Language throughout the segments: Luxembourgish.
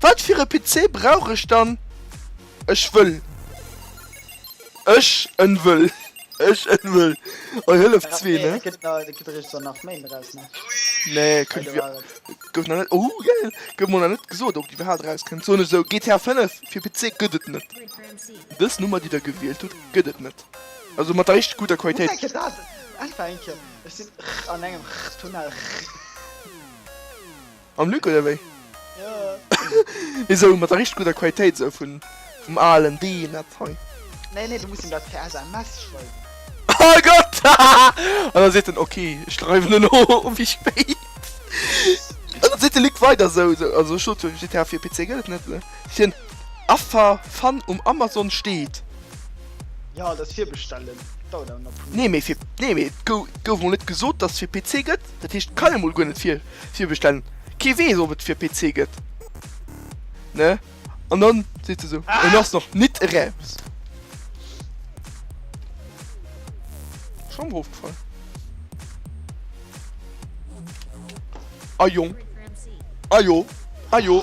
Wat fir e PC brauch ech dann? Ech wëll. Ech en wëll. Ech en wëll. Oi Hëllef zwee ne? Et gëtt nach, et gëtt eréischt dann nach méi mat aus ne? Nee kënnt Hei do war et. gouf nach net. Ooh geil! Gouf mer nach net gesot op déi iwwerhaapt eraus kënnt. Soen ech esou GTA 5 fir PC gëtt et net. Dës Nummer déi der gewielt hutt gëtt et net. Also mat der richteg gudder Hu Qualitéit. enke dat! Einfach enke. Ech sinn an engem Tunnel. Mam Luc oder wéi? Jo. Esou mat der richteg gudder Qualitéit esou vun vum alen Dean dat hei. Nee nee, du muss em dat per SMS schreiwen. Oh Gott! An da seet en ok, ech schreiwen elo wéi spéit. An da seet de Luc weider esou esou, also ech sot jo GTA fir PC gëtt et net, seet hien, Affer, Fan um Amazon steet. Jo, dat virbestellen dauert awer nach e puer Méint. Nee mee fir, nee mee et gouf mol net gesot dass et fir PC gëtt, dat heescht et kann ee mol guer net vir. virbestellen kee wees op et fir PC get ne an dann seet se sou en ass nach nit eraus. Schon mer ofgefall. Ah jong ah jo ah jo.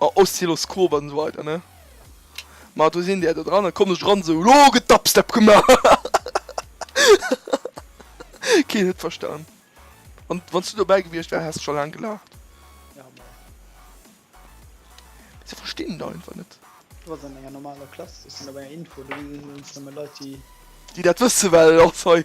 Ma Oszilloskop an esou weider ne ma do sinn der do dran an kommen ech eran esou lo gëtt Dubstep gemaach hahahaha keen huet verstan an wanns du dobäi gewiecht wär häss scho laang gelaacht. Ja ma se verstinn et einfach net. Du wars an enger normaler Klass, du wars an enger Info, do sinn nëmmen Leit déi. Déi dat wësse well och hei.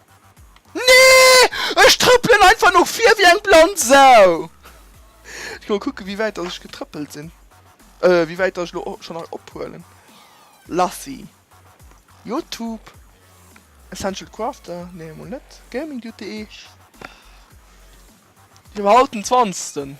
Nee! Ech trëppelen einfach no vir wéi eng blann Sau! Ech gi mol kucken, wéi wäit datt ech getrëppelt sinn. Euh, wéi wäit datt ech elo schonn hei ophuelen. Lassi. YouTube. Essential Crafter. Nee, mol net. Gaming Duty. Ech hu haut den zwanzegsten.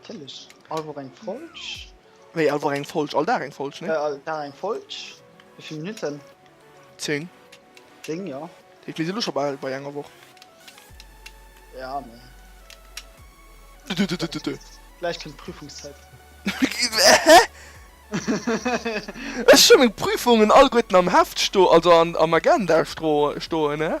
Natierlech, all Woch eng Folg. Wéi all Woch eng Folg? All Dag eng Folg, ne? All Dag eng Folg. Wéi vill Minutten? Zéng. Zéng, jo. Ech mir si lo scho bal bei enger Woch. Ja, mee. Gläich kënnt d'Prüfungszäit. Hä? Ech hu meng Prüfungen alleguerten am Heft sto, also am Agenda stroe stoen, ne?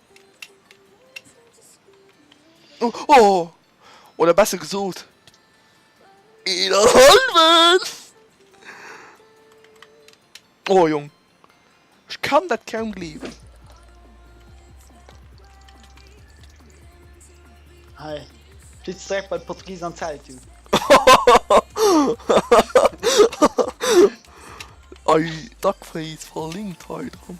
Oh, oh! Oder besser gesot, een an halwen! Oh Jong, ech kann dat kaum gleewen. Hei, flitts direkt bei d'Portugisen an d'Zelt, du. Ei, Duckface verlinkt hei dran.